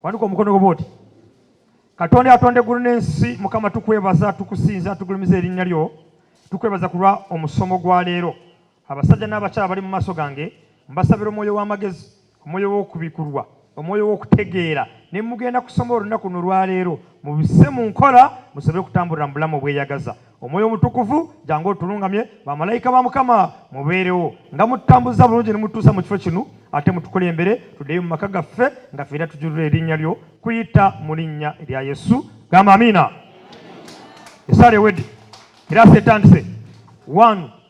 Wanduka omukono gwo bwoti katonda yatonda eggulu n'ensi mukama tukwebaza tukusinza tugulumiza erinnya lyo tukwebaza kulwa omusomo gwa leero abasajja n'abakyala bali mu maaso gange mbasabira omwoyo w'amagezi omwoyo w'okubikulwa omwoyo w'okutegeera ne mugenda kusoma olunaku luno lwaleero mubise mu nkola musobole okutambulira mu bulamu obweyagaza omwoyo omutukuvu jangu otulungamye bamalayika ba mukama mubeerewo nga mutambuza bulungi ne mutuusa mu kifo kino ate mutukulembere tuddeyo mu maka gaffe nga feera tujulira erinnya lyo kuyita mu linnya erya yesu gamba amiina esaala ewedde era setandise one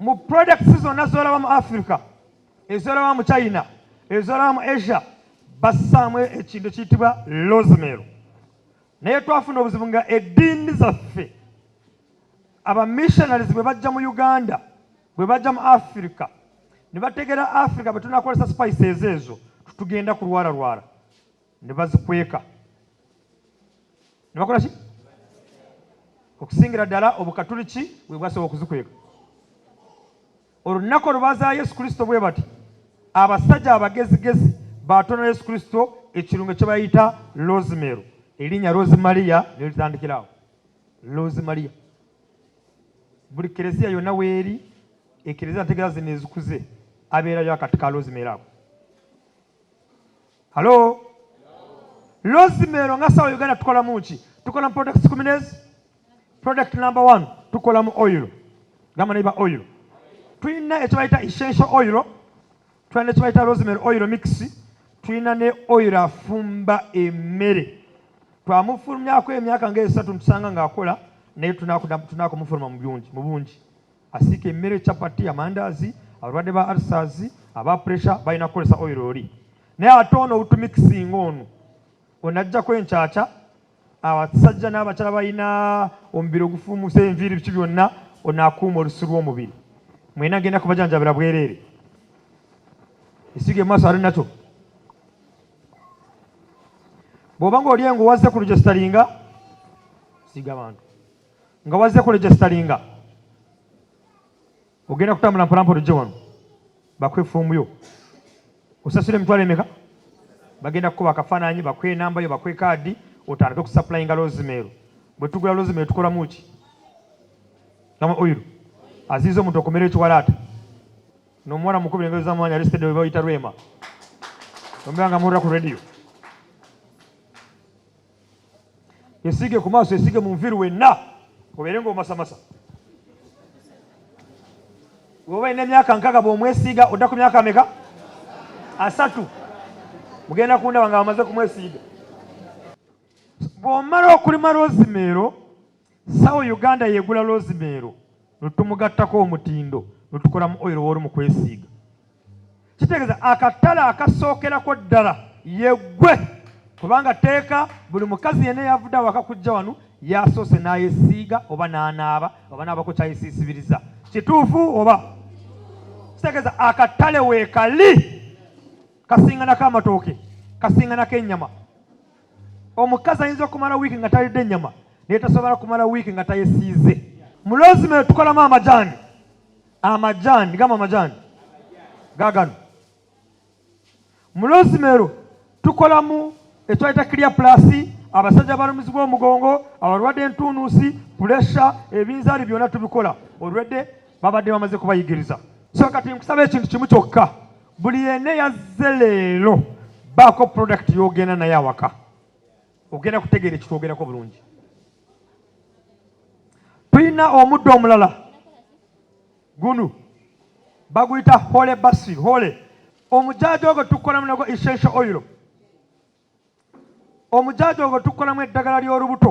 Mu products zonna zolaba mu Africa, ezolaba mu China, ezolaba mu Asia, bassaamu ekintu kiyitibwa rosemary. Naye twafuna obuzibu nga eddiini zaffe abamissionaries bwe bajja mu Uganda, bwe bajja mu Africa ne bategeera Africa bwe tunakozesa spices ezo tugenda kulwalalwala. ne bazikweka ne bakola ki okusingira ddala obukatuliki bwe bwasobola okuzikweka olunaku olubazaa yesu kristo bwe bati abasajja abagezigezi batonera yesu kristo ekirungo kye bayita lozimeero erinnya rosimaliya ne litandikirawo losimaliya buli kereziya yonna weeri ekereziya ntegeeza zino ezikuze abeerayo akati ka lozimeero ako halo lozimero nga sawa uganda tukola muki tukola mu products kuminezi product number one tukola mu oil gamba naiba oil tulina ekyebayita essential oil tulina nekyebayita rosemary oil mix tulina ne oil afumba emmere twamufulumyako emyaka nga esatu ntusanga ngaakola naye tunakumufuluma mu bungi asiika emmere chapati amandaazi abalwadde ba arsas aba pressure balina kukozesa oil oli naye ate ono outumikisinga ono onajjako enkyakya abasajja n'abakyala balina omubiri ogufuumusa enviiri biki byonna onaakuuma olusu lw'omubiri mwena genda kubajanjabira bwereere esiga emaaso ali nakyo bw'oba nga oli engo wazze ku lujesitalinga siga bantu nga wazze kulegisitalinga ogenda kutambula mpolampola ojje wano bakwe foomu yo osasula emitwalo emeka bagenda kukuba akafaananyi bakwe enamba yo bakwe kaadi otandike okusapulayinga lozimeero bwe tugula lozimeero tukolamu ki nama oyiru aziiza omuntu okumera ekiwalaata nomuwala mukubira engeri zamwanya alistede webayita rwema omera nga murra ku rediyo Yesiige ku maaso, yesiige mu nviiri wenna obeere ng'omasamasa. Bw'oba olina emyaka nkaaga bw'omwesiiga odda ku myaka ameka? Asatu. Mugenda kundaba nga bamaze kumwesiiga. Bw'omala okulima rozimeero Sawo Uganda yegula lozimeero netumugattako omutindo netukolamu oil wooru mu kwesiiga kitegeeza akatale akasookerako ddala yeggwe kubanga tteeka buli mukazi yenna eyavudde awaka kujja wano yasoose n'ayesiiga oba n'anaaba oba naabako kyayesiisibiriza kituufu oba kitegeeza akatale weekali kasinganako amatooke kasinganako ennyama Omukazi ayinza okumala wiiki nga talidde nnyama naye tasobola kumala wiiki nga tayesiize. Mu lozime tukolamu amajaani, amajaani gamba amajaani gagano. Mu lozimero tukolamu ekitwayita kiriya pulasi abasajja abalumizibwa omugongo abalwadde entunuusi pulesha ebinzaali byonna tubikola olwedde babadde bamaze kubayigiriza so kati nkusaba ekintu kimu kyokka buli yenna yazze leero baako product yogenda naye awaka ogenda kutegeera ekitwogerako bulungi tulina omuddo omulala gunu baguyita hole basi hole omujaaja ogwo tukolamu nago essential oil omujaaja ogwo tukolamu eddagala ly'olubuto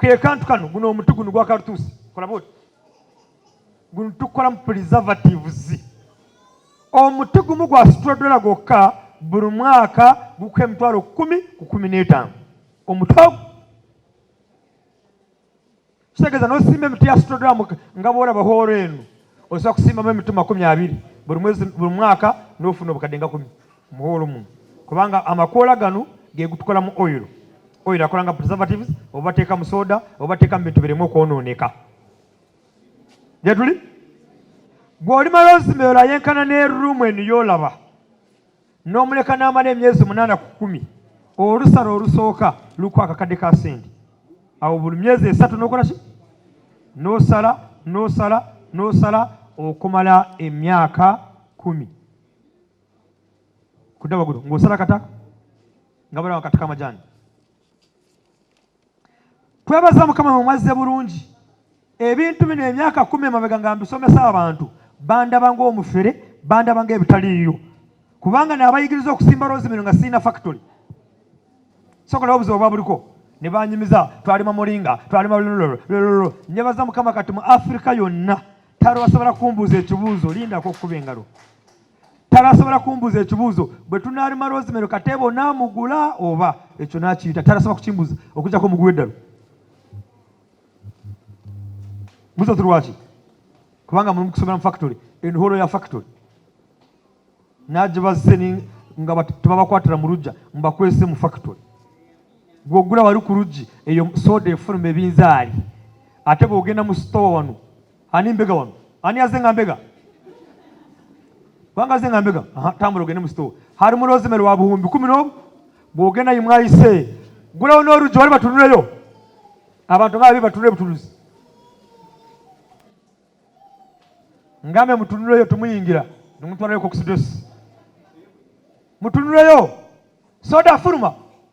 kekantu kano guno omutu guno gwa kalutusi kolaba oti guno tukolamu preservatives omuti gumu gwa situla dola gwokka buli mwaka gukuka emitwalo kumi ku kumi n'etaano omuti ogu kitegeeza nosimba emiti ya situla dola nga bwolaba hoolo eno osobola kusimbamu emiti makumi abiri buli mwaka n'ofuna obukadde nga kumi muhoolo muno kubanga amakoola gano gegutukolamu oil oil akola nga preservatives obateeka mu soda obateeka mu bintu biremu okwonooneka gyetuli gweolimala ozima eyo layenkana ne room eno yolaba n'omuleka n'amala emyezi munaana ku kumi olusala olusooka luku akakadde ka sente awo buli myezi esatu nokola ki nosala nosala nosala okumala emyaka kumi kudda waggulu ng'osala kata nga balawa kati kamajaani twebaza mukama mumwazze bulungi ebintu bino emyaka kumi emabega nga mbisomesa abantu bandaba ngaomufere bandaba nga ebitaliiyo kubanga nabayigiriza okusimba loozi mino nga sirina factory sokolawo obuzibu obwa buliko ne banyumiza twalima mulinga twalima lulululululu nyebaza mukama kati mu afirika yonna tari wasobola kumbuuza ekibuuzo lindako okukuba engalo tarasobola kumbuza ekibuuzo bwe tunaalima rosemary kateeba onaamugula oba ekyo naakiyita tarasobola kukimbuza okujjako omuguwa eddalu muzo tulwaki kubanga mulimu kusomera mu factory enholo ya factory nagibazze nga tebabakwatira mu lujja mbakwese mu factory gwogula wali ku luggi eyo soda efuluma ebinzaali ate bwogenda mu sitowa wano Ani mbega wano? Ani aze nga mbega? Kubanga aze nga mbega? Aha, tambula ogende mu sitoowa. Hari mu rosemary wa buhumbi kumi n'omu bw'ogenda yi mwayise gulawo n'oluggi wali batunuleyo abantu nga babi batunule butunuzi ngambe mutunuleyo tumuyingira nimutwalayo kokusidosi mutunuleyo soda furuma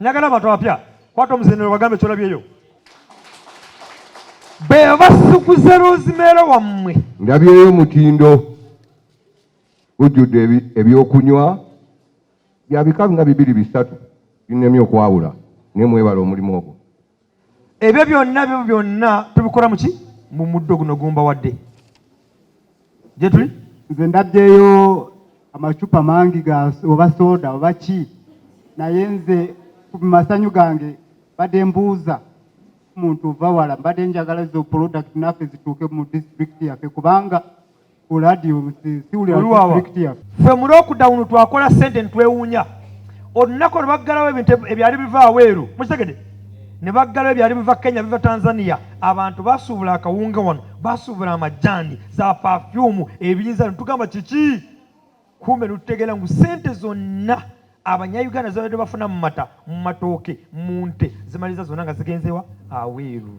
Njagala abantu abapya kwata omuzindiro wagambe kyolabyeyo be basukuze rozimeero wammwe ndabyeyo omutindo gujjudde ebyokunywa byabika nga bibiri bisatu binemye okwawula naye mwebala omulimu ogwo ebyo byonna byo byonna tubikola muki mu muddo guno gumba wadde gyetuli nze ndabyeyo amacupa mangi ga oba soda oba ki naye nze ku masanyu gange badde mbuuza muntu ova wala mbadde njagala zo product naffe zituuke mu disitulikiti yaffe kubanga ku radio ffe mu lockdown twakola sente netwewuunya olunaku olwo baggalawo ebintu ebyali biva aweeru mukitegede ne baggalawo ebyali biva kenya biva tanzania abantu basuubula akawunga wano basuubula amajjaani za pafyumu ebiyinza netugamba kiki kumbe netutegeera ngu sente zonna abanyayuganda zibadde bafuna mu mata mu matooke mu nte zimaliza zonna nga zigenzewa aweeru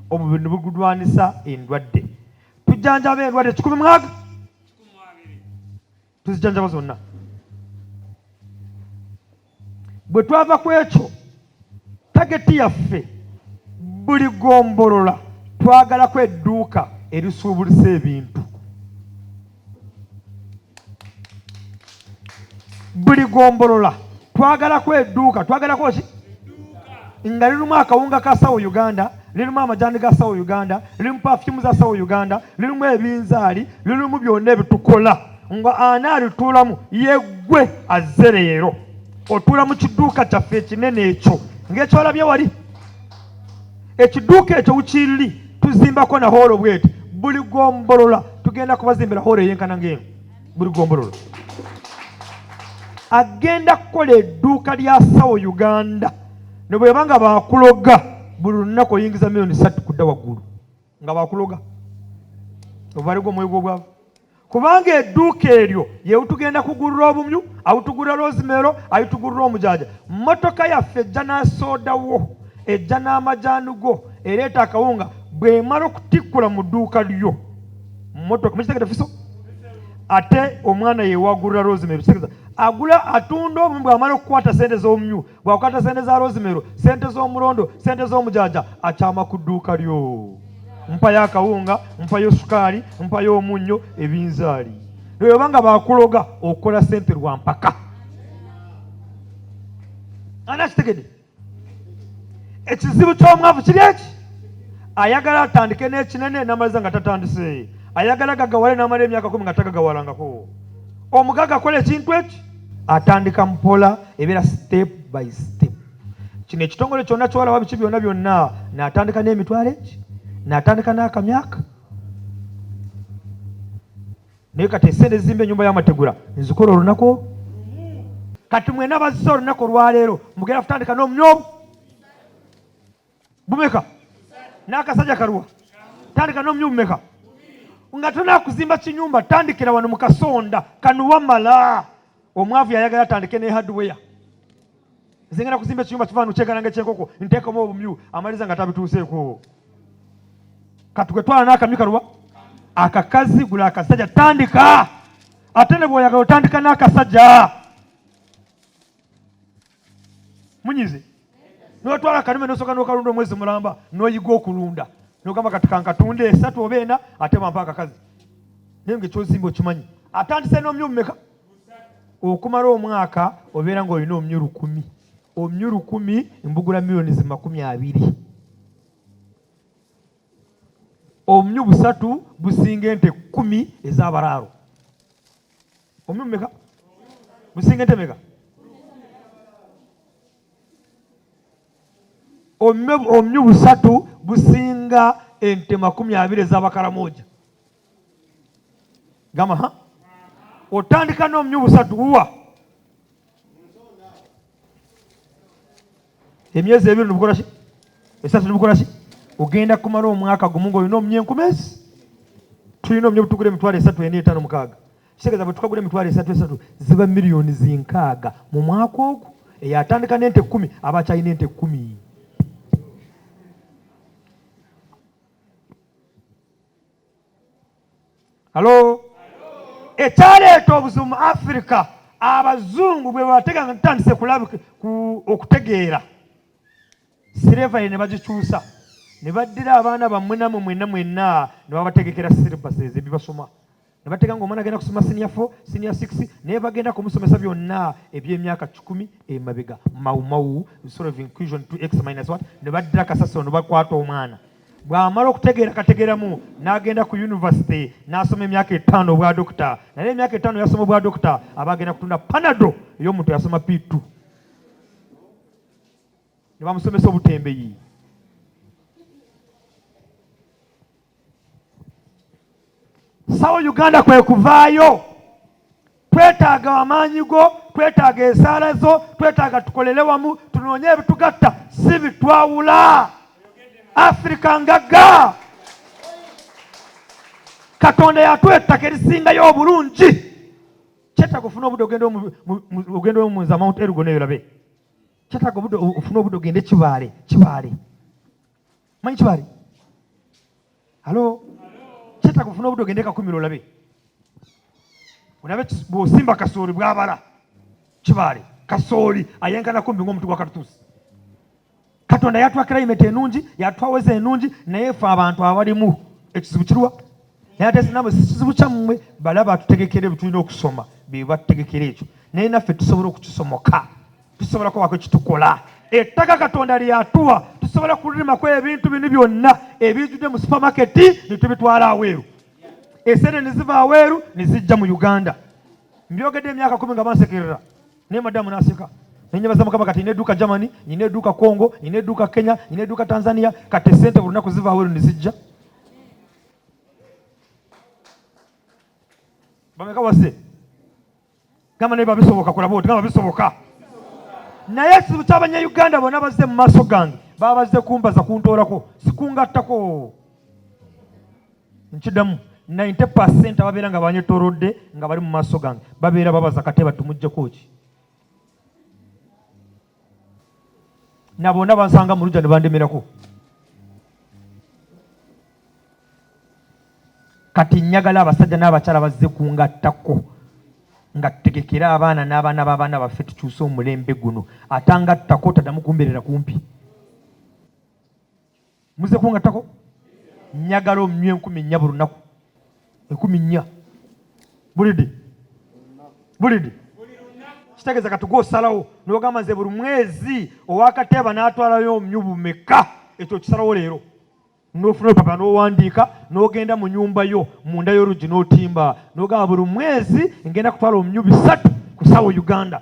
Omubiri ne bugulwanisa endwadde. Tujjanjaba endwadde kikumi mwaga tuzijjanjaba zonna. Bwe twava ku ekyo tageti yaffe buli gombolola twagalako edduuka erisuubulisa ebintu. buli gombolola twagalako edduuka twagalako ki nga lirimu akawunga ka sawo uganda lirimu amajani ga sawo uganda lirimu pafumu za sawo uganda lirimu ebinzaali lirimu byonna ebitukola nga ani alituulamu yeggwe azze leero otuula mu kiduuka kyaffe ekinene ekyo ngaekyolabye wali ekiduuka ekyo wukiriri tuzimbako na hoolo bweti buli gombolola tugenda kubazimbira hoolo eyenkana ngaeno buli gombolola agenda kukola edduuka lya sawo uganda ne bweba nga bakuloga buli lunaku oyingiza miliyoni satu kudda waggulu nga bakuloga ovaaligo omwoyo gwobwavu kubanga edduuka eryo yewutugenda kugulira obumyu awutugulira loozimeero ayitugulira omujaja mmotoka yaffe ejja n'asoodawo ejja n'amajaani go ereeta akawunga bw'emala okutikkula mu dduuka lyo mmotoka mukitegede fiso ate omwana yewagulira loozimeero kitegeza agula atunda obumyu bw'amala okukwata sente z'obumyu bwakukata sente za rosimero sente z'omulondo sente z'omujaja akyama ku dduuka lyo mpayo akawunga mpayo sukaali mpayo omunnyo ebinzaali lweyoba nga bakuloga okola sente lwa mpaka ani akitegede ekizibu ky'omwavu kiri eki ayagala atandike n'ekinene namaliza nga tatandise ayagala gagawale namala emyaka kumi nga tagagawalangako omugaga akola ekintu eki atandika mpola ebeera step by step kino ekitongole kyonna kyolaba biki byonna byonna natandika n'emitwalo eki natandika n'akamyaka naye kati esente zimba enyumba y'amategula nzikola olunaku olwo kati mwena bazze olunaku olwaleero mugenda kutandika n'omnyomu bumeka n'akasajja kaluwa tandika n'omunyumba bumeka nga tonakuzimba kinyumba tandikira wano mu kasonda kanuwamala omwavu yayagala atandike ne hardware zengera kuzimba ekinyumba kiva nukyegalanga ekyenkoko nteekamu obumyu amaliza nga tabituuseeko katugwe twala n'akamyu kaluwa akakazi gula akasajja tandika ate ne bwoyagala otandika n'akasajja munyize notwala kanume nosoka nokalunda omwezi mulamba noyiga okulunda nogamba kati kankatunda esatu oba ena ate bampa akakazi naye nga ekyozimba okimanyi atandise n'omyumu meka okumala omwaka obeera nga olina omyu lukumi omyu lukumi mbugula miliyoni zimakumi abiri omyu busatu businga ente kumi ezabaraaro Omyo meka? Musinga ente meka? Omyo omyo busatu businga ente makumi abiri ez'abakaramoja. Gama ha? Otandika n'omyo busatu uwa. emyezi ebiri nibukola ki esatu nibukola ki ogenda kumala omwaka gumu ngaolina omunya enkumezi tulina omunya obutugula emitwalo esatu ena etaano mukaaga kitegeeza bwe tukagula emitwalo esatu esatu ziba miliyoni zinkaaga mu mwaka ogwo eyo atandika n'ente ekkumi aba akyalina ente ekkumi Halo, ekyaleeta obuzibu mu Afirika abazungu bwe batega nga tutandise kulabika okutegeera sirevale ne bagikyusa ne baddira abaana bammwe namwe mwenna mwenna ne babategekera silibasi ezo ebibasoma ne batega nga omwana agenda kusoma siniya fo siniya sikisi naye bagenda kumusomesa byonna eby'emyaka kikumi emabega mawumawu sort of inclusion to x minus what ne baddira kasasiro ne bakwata omwana bw'amala okutegeera kategeeramu n'agenda ku yunivasite n'asoma emyaka etaano obwa dokita naye emyaka etaano yasoma obwa dokita aba agenda kutunda panado ey'omuntu yasoma p2 ne bamusomesa obutembeyi sawo uganda kwe kuvaayo twetaaga amaanyi go twetaaga esaala zo twetaaga tukolere wamu tunoonye ebitugatta si bitwawula afirika ngagga katonda yatuwa ettaka erisingayo obulungi kyetaaga ofuna obudde ogenda omunza mount ergo neyolabe kyetaaga ofuna obudde ogende kibaale kibaale manyi kibali halo kyetaga ofuna obudde ogende kakumira olabe olabe bwosimba kasooli bwabala kibali kasooli ayenkana kumbi ngaomuntu gwa katutuusi katonda yatwa kilayimeti enungi yatwaweza enungi naye fe abantu abalimu ekizibu kiruwa naye ate sinamwe sikizibu kyammwe balaba tutegekere butulina okusoma bebategekera ekyo naye naffe tusobola okukisomoka tusobola kubako kitukola ettaka katonda lyatuwa tusobola kulimako ebintu bino byonna ebijjudde mu supamaketi netubitwala aweeru esente neziva aweeru nezijja mu uganda mbyogedde emyaka kumi nga bansekerera naye madamu naseka nenyebaza mukama kati nina eduuka germany nina eduuka congo nina eduuka kenya nina eduuka tanzania kati esente buli lunaku ziva aweeru nezijja bameka wase gamba naye babisoboka kulaba oti gamba bisoboka naye ekizibu kyabanyayuganda bona bazze mu maaso gange babazze kumbaza kuntoolako sikungattako nkidamu 90 percent ababeera nga banyetorodde nga bali mu maaso gange babeera babaza kate batumujjeko ki na bonna bansanga mu lugya ne bandemerako kati njagala abasajja n'abakyala bazze kungattako nga tutegekere abaana n'abaana b'abaana baffe tukyuse omulembe guno atangattako taddamu kumbeerera kumpi muze kungattako njagala omnywa enkumi nnya buli lunaku enkumi nnya bulidi bulidi kitegeeza kati gwosalawo nogamba nze buli mwezi owakateeba n'atwalayo omnyu bumeka ekyo kisalawo leero nofuna olupapula nowandiika nogenda mu nyumba yo munda y'oluggi notimba nogamba buli mwezi ngenda kutwala omnyu bisatu ku sawa uganda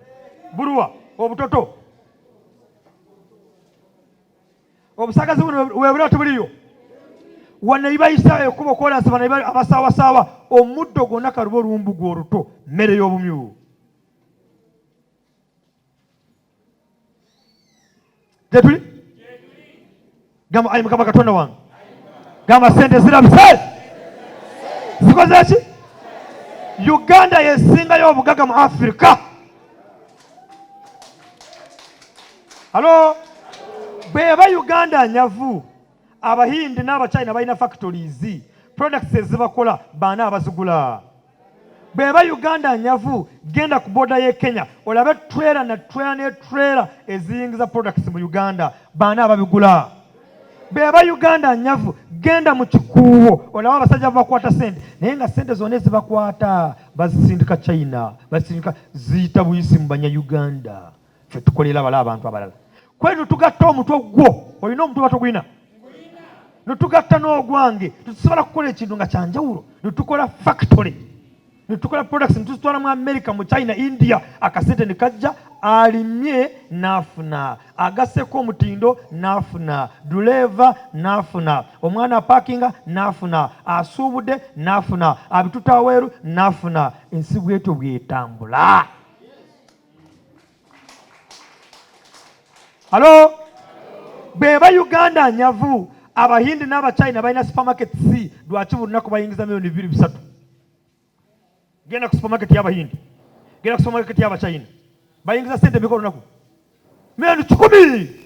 buluwa obutoto obusagazi buno webuli atubuliyo wano ibayisa ekubo kolansi bano abasaawasaawa omuddo gwonna kaluba oluwumbu gwe oluto mmere y'obumyu gyetuli gamba ayi mukama katonda wange gamba sente zirabise zikoze ki uganda yesingayo obugaga mu afirika alo bweba uganda nyavu abahindi n'abachina balina factories products ezibakola baana abazigula bweba uganda nyavu genda ku boda ye kenya olabe trela na trela ne trela eziyingiza products mu uganda baana ababigula bweba uganda nyavu genda mu kikuuwo olaba abasajja babakwata sente naye nga sente zona ezibakwata bazisindika china bazisindika ziyita buyisi mu banya uganda ffe tukolera bala abantu abalala kwe nutugatta omutwe gwo olina omutwe batogulina nutugatta n'ogwange tetusobola kukola ekintu nga kyanjawulo netukola factory netukola products netuzitwala mu america mu china india akasente ne kajja alimye n'afuna agaseko omutindo n'afuna duleeva n'afuna omwana apakinga n'afuna asuubudde n'afuna abitutaweeru n'afuna ensi bwetyo bwetambula halo beba uganda nyavu abahindi n'abachina balina supermarket si lwaki buli lunaku bayingiza miliyoni bibiri bisatu genda ku supermarket y'abahindi genda ku supermarket y'abachina bayingiza sente mika olunaku miliyoni kikumi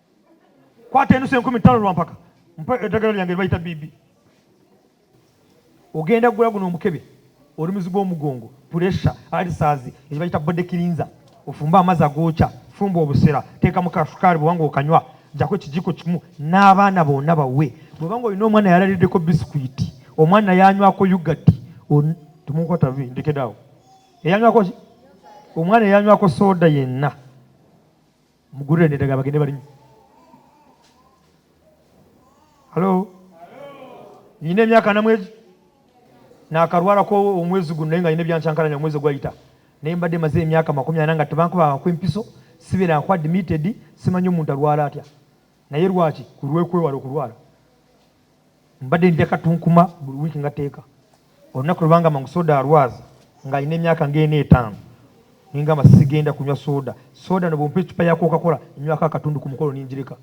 kwata enusu enkumi ttaano lwampaka mpa eddagala lyange libayita bibi ogenda kugula guno omukebe oli muzigo omugongo pulesa alisazi ekibayita bode kirinza ofumba amazzi agookya fumba obusera teekamu kasukaali bwewanga okanywa jako ekijiko kimu n'abaana bonna bawe bwebanga olina omwana yalaliddeko bisikwiti omwana yanywako yugati temukwata ndekedaawo eyanywako omwana eyanywako sooda yenna mugurire nedaga bagende balinye halo nyina emyaka namwezi nakarwarako omwezi guno naye nga nyina ebyancankalanya omwezi ogwayita naye mbadde maze emyaka makumi ana nga tebankubaako empiso sibeera nku admitted simanyi omuntu alwala atya naye lwaki kulwekwewala okulwala Mbadde ndya katunkuma buli wiiki ngateeka olunaku lwe bangamba ngu soda alwaza ng'alina emyaka ng'ena etaano ne ngamba sigenda kunywa soda soda no bwompa eccupa ya kokakola nywako akatundu ku mukolo ningireka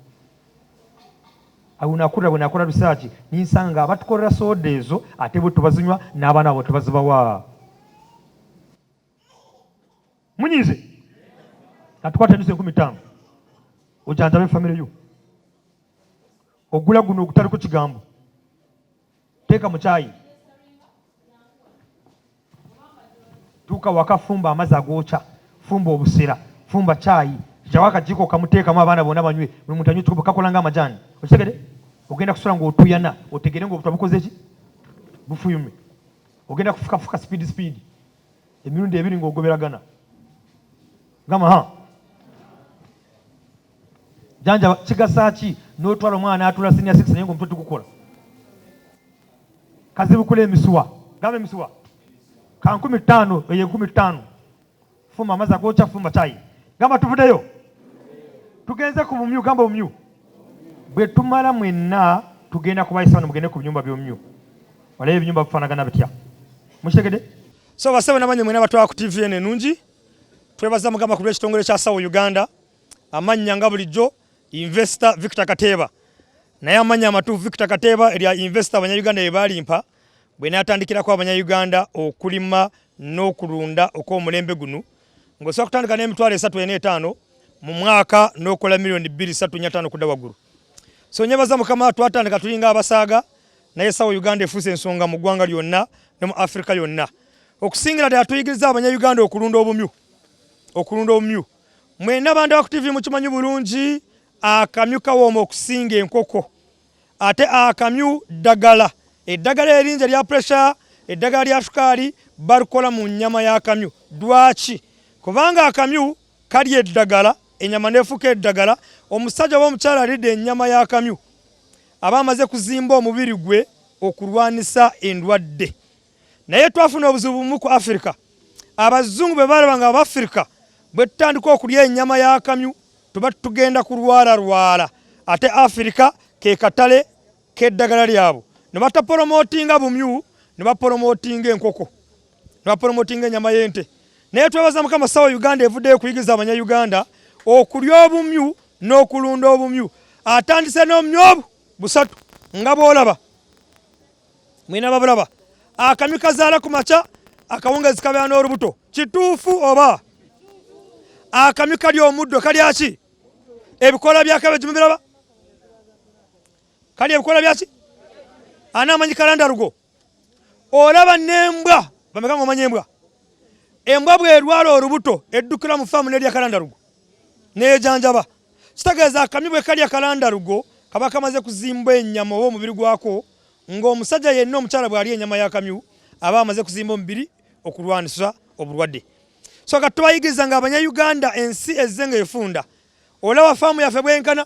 awunakulira bwe nakola risaaki ninsanga nga abatukolera soda ezo ate bwe tubazinywa n'abaana abo tebazibawa munyize natukwata emyezi enkumi ttaano ojanjabe famire yo ogula guno ogutaliko kigambo teeka mu kyayi tuuka waka fumba amazzi agookya fumba obusera fumba kyayi kyawo akajiiko kamuteekamu abaana bona banywe buli muntu anywe kikopo kakola nga amajaani okitegede ogenda kusula nga otuyana otegere nga obutwa bukoze ki bufuyume ogenda kufukafuka sipiidi sipiidi emirundi ebiri ng'ogoberagana gamba ha janjaba kigasa ki n'otwala omwana atula sinia six naye ng'omutwe tugukola kazibukula emisuwa gamba emisuwa ka nkumi ttaano eyo enkumi ttaano fumba amazzi agokya fumba kyayi gamba tuvudeyo tugenze ku bumyu gamba bumyu bwe tumala mwenna tugenda kubayisa bano mugende ku binyumba by'omumyu Wala ebinyumba bifanagana bitya? Mukitegede? So basebo nabanye mwena batwa ku TV ene nungi. Twebaza mugamba ku kitongole kya Sawo Uganda. Amanya nga bulijjo investor Victor Kateba. Naye amanya amatu Victor Kateba erya investor abanya Uganda yebalimpa bwe natandikira kwa abanya Uganda okulima n'okulunda okw'omulembe guno ng'osobola kutandika n'emitwalo esatu ena etaano mu mwaka n'okola miliyoni bbiri satu nya ttaano okudda waggulu so nyebaza mukama twatandika tulinga abasaaga naye sawa Uganda efuuse ensonga mu ggwanga lyonna ne mu Afrika yonna okusingira ddala tuyigiriza abanyayuganda okulunda obumyu okulunda obumyu mwena bantu baku tv mukimanyi bulungi akamyu kawooma okusinga enkoko ate akamyu ddagala eddagala eringi erya pressure eddagala lya sukaali balikola mu nyama y'akamyu dwaki kubanga akamyu kalya eddagala enyama nefuuka eddagala omusajja oba omukyala alidde enyama y'akamyu aba amaze kuzimba omubiri gwe okulwanisa endwadde naye twafuna obuzibu bumu ku afirika abazungu bwe balaba nga abafirika bwe tutandika okulya enyama y'akamyu tuba tugenda kulwalalwala ate afirika ke katale k'eddagala lyabwe ne batapolomootinga bumyu ne bapolomootinga enkoko ne bapolomootinga enyama y'ente naye twebaza mukama sawa uganda evuddeyo kuyigiza abanya uganda okulya obumyu n'okulunda obumyu atandise n'omumyu obu busatu nga bwolaba mwina babulaba akamyu kazaala ku makya akawungezi kabeera n'olubuto kituufu oba akamyu kali omuddo kalyaki ebikola byakabeji mubiraba kali ebikola byaki anaamanyi kalandalugo olaba nembwa bameka nga omanya embwa embwa bwerwala olubuto eddukira mu faamu nelya kalandalugo neyejanjaba kitegeeza akamyu bwe kalya kalandalugo kaba kamaze kuzimba enyama oba omubiri gwako ng'omusajja yenna omukyala bw'alya enyama y'akamyu aba amaze kuzimba omubiri okulwanisa obulwadde so kati tubayigiriza ng'abanyayuganda ensi ezze ng'efunda olaba faamu yaffe bwenkana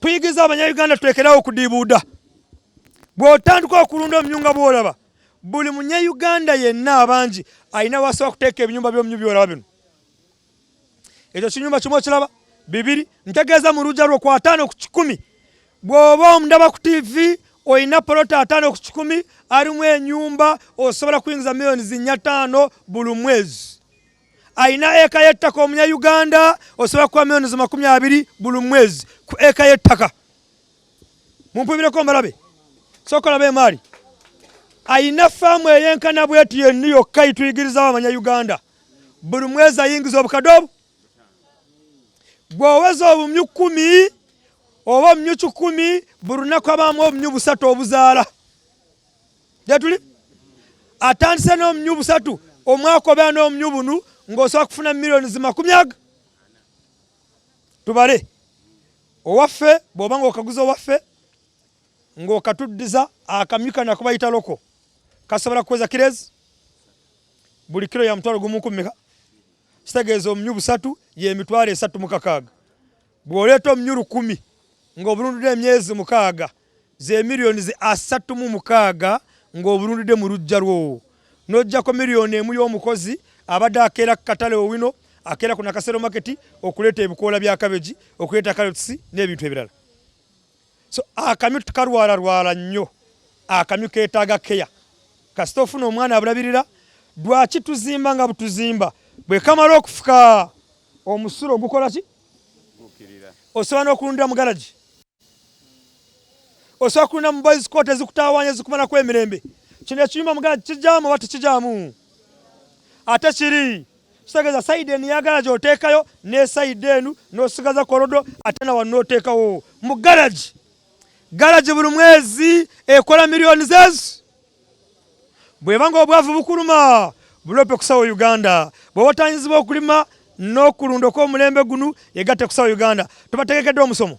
kuyigiriza abanyayuganda tulekerawo okudiibuuda bw'otandika okulunda omnyu nga bw'olaba buli munyayuganda yenna abangi alina wasobola kuteeka ebinyumba by'omnyu by'olaba bino ekyo kinyumba kimu okiraba bibiri ntegeeza mu lujja lwo ku ataano ku kikumi bw'oba omundaba ku tiivi olina poloti ataano ku kikumi alimu enyumba osobola kuyingiza miliyoni zinnya taano buli mwezi alina eka y'ettaka omunyayuganda osobola kuwa milioni za makumi abiri buli mwezi ku eka y'ettaka mumpubireko mbalabe sooka olaba emaali alina faamu eyenkana bweti yenni yokka yituyigirizawo abanyayuganda buli mwezi ayingiza obukadde obu bw'oweza obumyu kkumi oba obumyu kikumi buli lunaku abaamu obumyu busatu obuzaala gyetuli atandise n'omumyu busatu omwaka obeera n'omumyu bunu ng'osobola kufuna millioni zimakumi aga tubale owaffe bw'oba ng'okaguza owaffe ng'okatuddiza akamyu kana kubayita loko kasobola kukweza kirezi buli kiro ya mutwalo gumu kumeka kitegeeza omumyu busatu y'emitwalo esatu mukakaaga Bw'oleeta omunnyu lukumi ng'obulundudde emyezi mukaaga, ze miriyoni ze asatu mu mukaaga ng'obulundudde mu luggya lwo. N'oggyako miriyoni emu y'omukozi abadde akeera ku katale Owino, akeera ku Nakasero Market okuleeta ebikoola bya kabegi, okuleeta kalotisi n'ebintu ebirala. so akamyu tukalwala lwala nnyo akamyu ketaaga keya kasita ofuna omwana abulabirira lwaki tuzimba nga butuzimba bwekamala okufuka omusulo ogukola ki osobola n'okulundira mu garagi osobola kulunda mu boys court ezikutawanya ezikumalako emirembe kino ekiyumba mu garagi kijaamu oba tekijaamu ate kiri kitegeeza sayidi eno yagala gyoteekayo ne sayidi enu n'osigaza kolodo ate nawa n'oteekawo mu garagi garagi buli mwezi ekola miliyoni zeezi bweba nga obwavu bukuluma bulope kusawo uganda bwe watanyizibwa okulima n'okulunda okw'omulembe gunu egatte kusawo uganda tubategekedde omusomo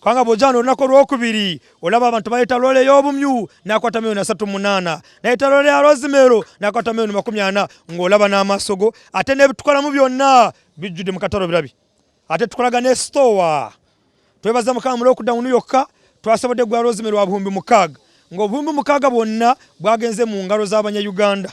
kubanga bw'ojaana olunaku olwokubiri olaba abantu baleeta loole ey'obumyu n'akwata miliyoni asatu munaana naleeta loole ya rozimeero n'akwata miliyoni makumi ana ng'olaba n'amaaso go ate n'ebitukolamu byonna bijjudde mu katalo birabi ate tukolaga ne sitoowa twebaza mukama mu lockdown yokka twasobodde gwa rozimeero wa buhumbi mukaaga ng'obuhumbi mukaaga bwonna bwagenze mu ngalo z'abanyayuganda